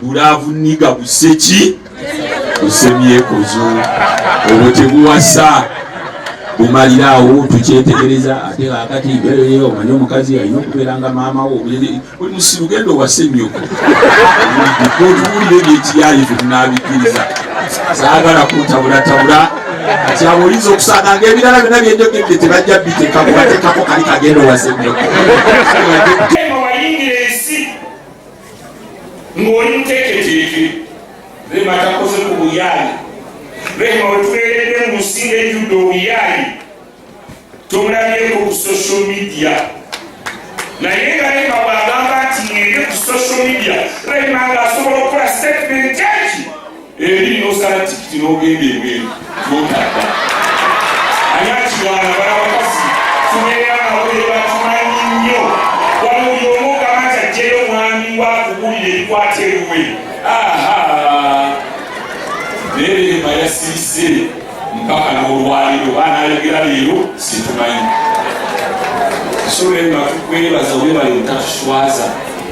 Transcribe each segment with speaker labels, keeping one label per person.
Speaker 1: bulaavu niga busse ki busemyekozo obwo tebuwasa bumalira awo tukyetegereza ate akati mbeereye omanye omukazi alina okubeera nga maama wo oli musiru genda owase nyoko otuwulire ebyekiyaye tetunabikkiriza saagala kuntabulatabula kati abo oyinza okusanga nga ebirala byona byenjogedde tebajja biteka kubatekako kali kagenda owase nyoko
Speaker 2: ng'oli muteeketeeke rema takoze ku buyaayi rema wetubeeredde mu nsi ng'ejjudde obuyaayi tomulabyeko ku social media naye nga rema bwagamba nti ngende ku social media rema ng'asobola okukola statement eki eri nosala tikiti nogenda ebweru notadda ani akirwana bala bakazi tubeera nabo tebatumanyi nnyo wala oli omu ogamba nti ajjeyo omwami wakubuulira ebikwata eruwe aha naye leema yasiise mpaka n'olwaliro banayogera leero situmanyi so leema tukwebaza webale butatuswaza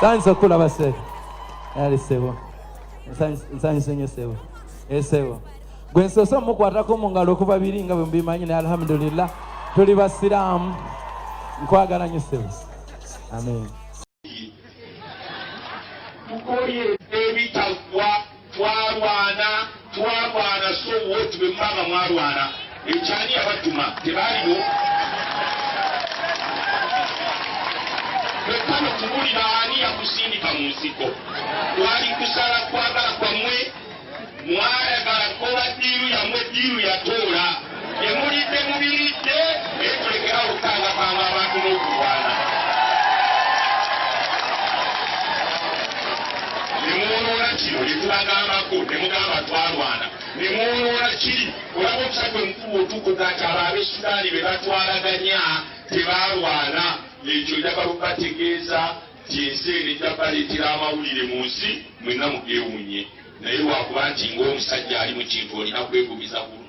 Speaker 3: sanso kula basebo ali sebo nsanyuse nyo sebo esebo eh, gwe nsoose omukwatako mu ngalo okuva biri nga bwe mubimanyi naye alhamdulillah tuli basiraamu nkwagala nyo sebo amen
Speaker 2: Twalwana twalwana so what bwe muba nga mwalwana ekyani yabatuma tebaaliwo kwekkano kubulira ani yakusindika mu nsiko kwali kusala kwagala kwamwe mwayagala kola diiru yamwe diiru yatoola Temulidde mubiridde naye tulekera okukangakanga abantu n'okulwana. Ne mwonoona kino ne tubagambako ne mugamba twalwana ne mwonoona kiri olaba omusa gwe mukulu otukuga nti abo ab'Esudaani be batwalaganya tebaalwana ekyo njagala okubategeeza nti ensi eno ejja baleetera amawulire mu nsi mwenna mugeewunye naye lwakuba nti ng'omusajja ali mu kintu olina kwegumiza ku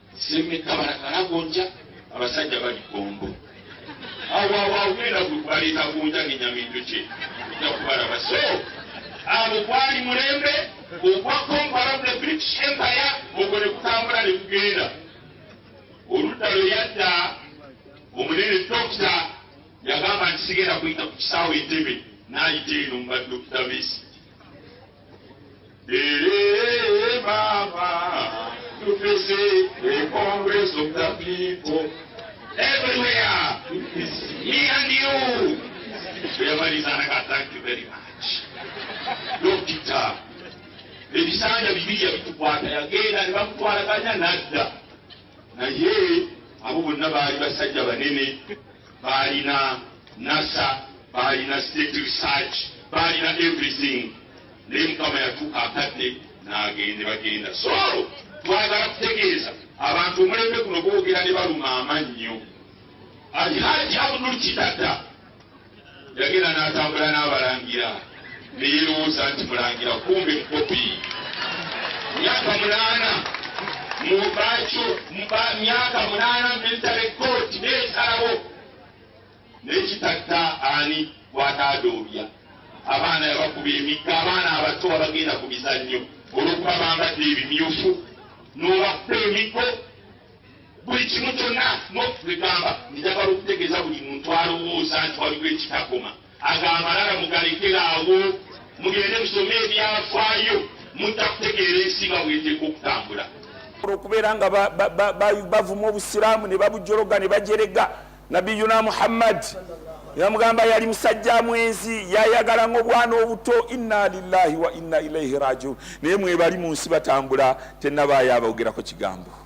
Speaker 2: Semme kabala kala gonja abasajja bali gombo awo awo agenda kubaleeta gonja ngenyamintu kye ojja kubalaba so abo gwali mulembe ogwa compara the british empire ogwo ne kutambula ne kugenda oludda lwe yadda omunene dokita yagamba nti sigenda kuyita ku kisaawe entebe n'ayita eno mu badokita besi Ereere maama tufese the congress of the people everywhere is me and you tuyamalizanaka thank you very much dokita ebisanja bibiri yabitukwata yagenda ne bamutwalaganya nadda naye abo bonna baali basajja banene Baalina NASA, baalina state research, baalina everything. Naye Mukama yatuuka akadde n'agende bagenda. So twagala kutegeeza abantu omulembe guno boogera ne baluma amannyo. Alhaji Abdul Kitata Yagenda n'atambula n'abalangira ne yeerowooza nti mulangira kumbe mukopi. Myaka munaana mu bakyo mba myaka munaana military court n'esalawo n'ekitatta ani gw'ataadoobya. Abaana yabakuba emigga, abaana abato abagenda ku bizannyo olw'okuba bambadde ebimyufu n'obakuba emiggo. Buli kimu kyonna n'okutugamba nti njagala okutegeeza buli muntu alowooza nti waliwo ekitakoma ago amalala mugalekera awo mugende musome ebyafaayo mujja kutegeera ensi nga bweteeka okutambula okubeera nga bavuma obusiraamu ne babujologa ne bajerega nabiyuna muhammad yamugamba yali musajja mwenzi yayagala nga obwana obuto inna lillahi wa inna ilaihi rajiun naye mwebali mu nsi batambula tenabaayo abaogerako kigambo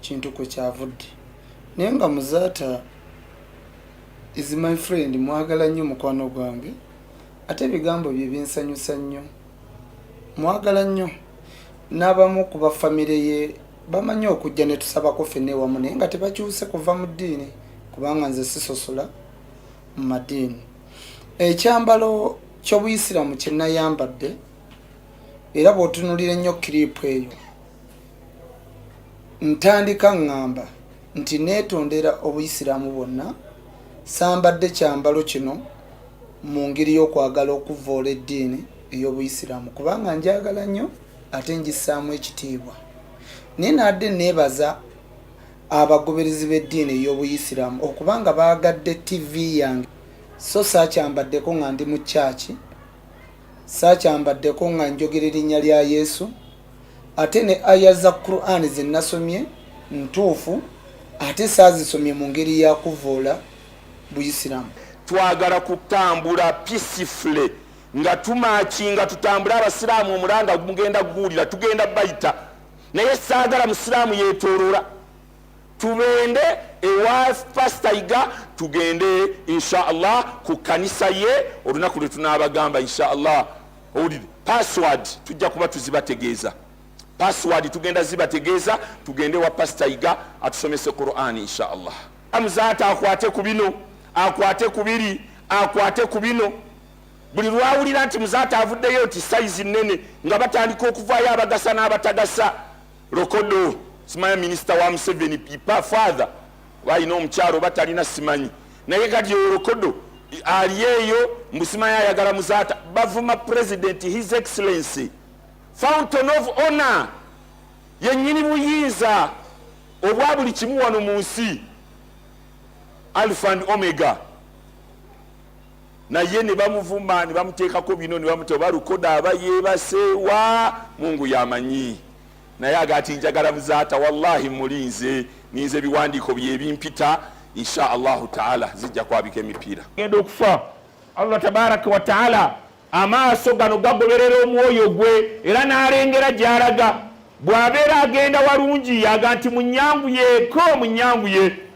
Speaker 4: kintu kwe kyavudde naye nga muzaata is my friend mwagala nnyo mukwano gwange ate ebigambo bye binsanyusa nnyo mwagala nnyo n'abamu ku bafamire ye bamanyi okujja ne tusabako fenna ewamu naye nga tebakyuse kuva mu ddiini kubanga nze sisosola mu madiini ekyambalo ky'obuyisiraamu kye nayambadde era bw'otunulira ennyo kiriipu eyo ntandika ŋŋamba nti neetondera obuyisiraamu bwonna sambadde kyambalo kino mu ngeri y'okwagala okuvvoola eddiini ey'obuyisiraamu kubanga njagala nnyo ate njisaamu ekitiibwa naye naadde neebaza abagoberezi b'eddiini ey'obuyisiraamu okubanga baagadde ttivi yange so saakyambaddeko nga ndi mu kyaki saakyambaddeko nga njogera erinnya lya yesu ate ne aya za qur'an ze nasomye ntuufu ate saazisomye mu ngeri ya kuvvoola buyisiraamu. Twagala kutambula peacefully nga tumaacinga tutambule abasiraamu omulanga mugenda kuguwulira tugenda bayita naye saagala musiraamu yeetooloola. Tubende ewa pastor iga tugende inshallah ku kanisa ye olunaku lwe tunabagamba inshallah owulire password tujja kuba tuzibategeeza password tugenda zibategeeza tugende wa pastor iga atusomese quran inshallah amuzaata akwate ku bino akwate ku biri akwate ku bino buli lwawulira nti muzaata avuddeyo nti sayizi nnene nga batandika okuvaayo abagasa n'abatagasa Lokodo
Speaker 2: simanya minisita wa Museveni pipa father oba alina omukyalo oba talina simanyi, naye kati oyo Lokodo ali eyo mbusimanya ayagala muzaata. Bavuma president his excellency fountain of honor yenyini buyinza obwa buli kimu wano mu nsi alpha and omega. naye ne bamuvuma ne bamuteekako bino ne bamuta oba lukoda aba yeebaseewa mungu yamanyi naye agati njagala muzaata wallahi mulinze ninze ebiwandiiko byebimpita insha allahu taala zijja kwabika emipiira genda okufa allah tabaraka wataala amaaso gano gagoberera omwoyo gwe era n'alengera gy'alaga bw'abeera agenda walungi yaga nti munyanguyeeko munyanguye